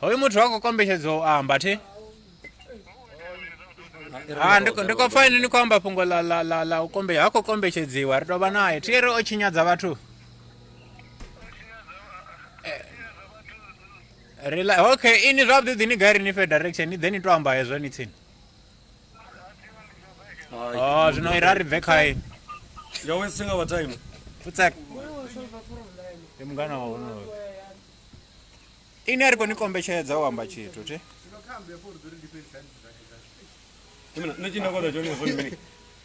hoyu muthu wa khou kombetshedzo u amba thi ah, ndi khou pfa ini ni khou amba fhungo ḽa u kombe ha khou kombetshedziwa ri tou vha naye thi ri o tshinyadza vhathu eh, okay ini zwavhuḓi ḓi ni gai ri ni fhe direction ni ḓe ni tou amba hezwo ni tsini Oh, zwino ira ri bve khae ya wesi tshanga vha time futsek ndi mungana wa honoyo ini a ri khou ni kombetshedza u amba tshithu thi nṋe tshi nda kona tshone zwa mini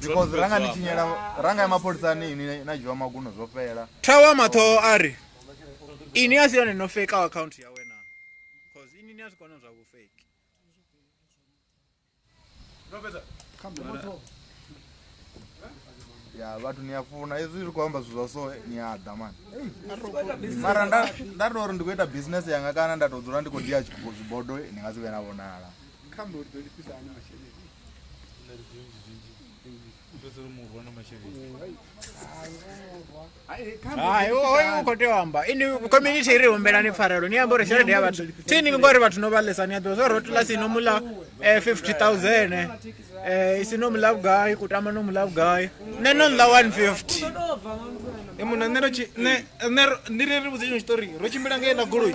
because ranga ni tshinyela ranga ya mapholisa ni ni na dzhiwa maguno zwo fhela thawa mathoho a ri ini a si yone no fake account yawe na cause ini ni a zwi kona zwa vhufeki ya vhathu ni a funa hezwi ri khou amba zwithu zwa so ni a ḓa mani mara nda nda tou ri ndi khou ita business yanga kana nda tou dzula ndi khou dia zwibodo ni nga si vhe na vhonala kha mori ḓo lifhisa hani masheleni hai u khou tea u amba ini community i ri humbelani pfarelo ni amba uri tshelede ya vhathu tini ngori vhathu no vhalesa ni a ḓivha zwa rotula si no mula eh, 50000 eh, eh isi no mula vhugai kutama no mula vhugai nṋe no ḽa 150 e muna nṋe ndi ri ri vhudze tshitori ro tshimbila ngei na goloi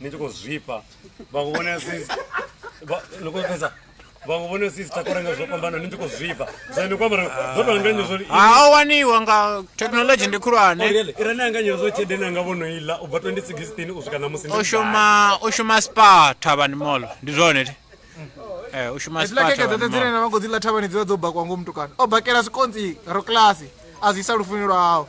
ni tshi khou zwifha vhaṅwe vhone ni khou pfesa vhaṅwe vhone si sita korenga zwo fhambana ni tshi khou zwifha so ni kwambara zwo tou anganya zwo ha ah, o waniwa nga thekhinolodzhi ndi khulwane oh, ira ni anganya zwo tshelede ni anga vhono ila u bva 2016 u swika na musi o shuma o shuma spa thavhani molo ndi zwone ti eh u shuma spa thavhani molo dzine na vhango dzi ḽa thavhani dzi vha dzo bakwa ngomu tukana o bakela sikontsi ro class a zwi sa lufunelwa hawo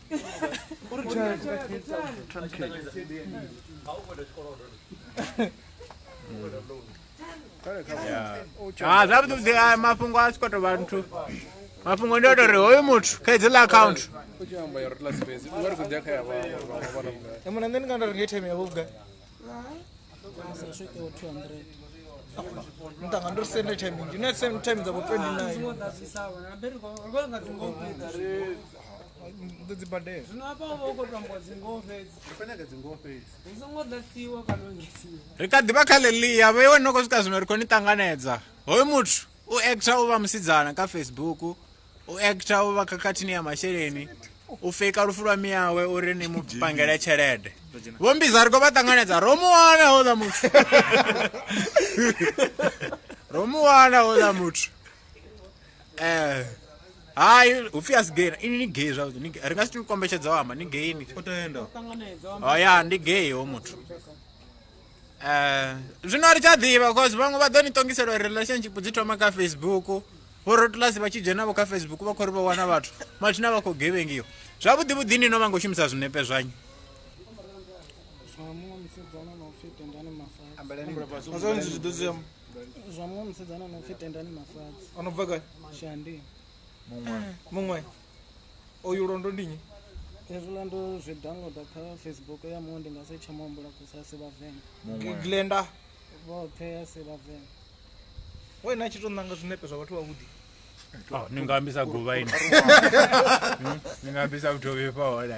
uri tshaya ah, zwavhuḓi ah, mafhungo a si khou tou vha nthu mafhungo ndi o tou ri hoyu muthu kha idzila akhaunthu mona nṋe ndi nga nda ri nga itheme yavho vhugai mtanga ndo sende timing you know same time dzavo 29 ndo dzibadela ri kha ḓivha kha lelia vhe iwe no khou swika zwino ri khou ni ṱanganedza hoyu muthu u actor u vha musidzana kha facebook u ekta u vha khakhathini ya masheleni u feka lufu lwa miyawe uri ni mu pangele tshelede vho mbiza ri khou vha ṱanganedza ro mu wana houḽa muthu ro mu wana houḽa muthu um hai hu pfi a si gay ini ni gay zwavhuḓi ri nga si ti kombetshedza u amba ni gay ni o ya ndi gay ho muthu zwino a ri tsha ḓivha bcause vhaṅwe vha ḓo ni ṱongisela uri relationship dzi thoma kha facebook vhorotulasi vha tshi dzhenavho kha facebook vha khou ri vha wana vhathu mathina vha khou gevhengiwa zwavhuḓi vhuḓi ni no vha ngo shumisa zwinepe zwanyu zwa muṅwe musidzana no pfi tendani mafadzi anobva gai shandi muṅwe muṅwe oyu londo ndi nyi hezwiḽa ndo zwi downloader kha facebook ya muṅwe ndi nga si tsha muhumbula kusa a si vhavenḓa muṅwe glenda vhoṱhe a si vhavenḓa we na tshi to nanga zwinepe zwa vhathu vhavhuḓi Oh, ni nga ambisa guvha ini Hmm? ni nga ambisa vhuthovhi fha hola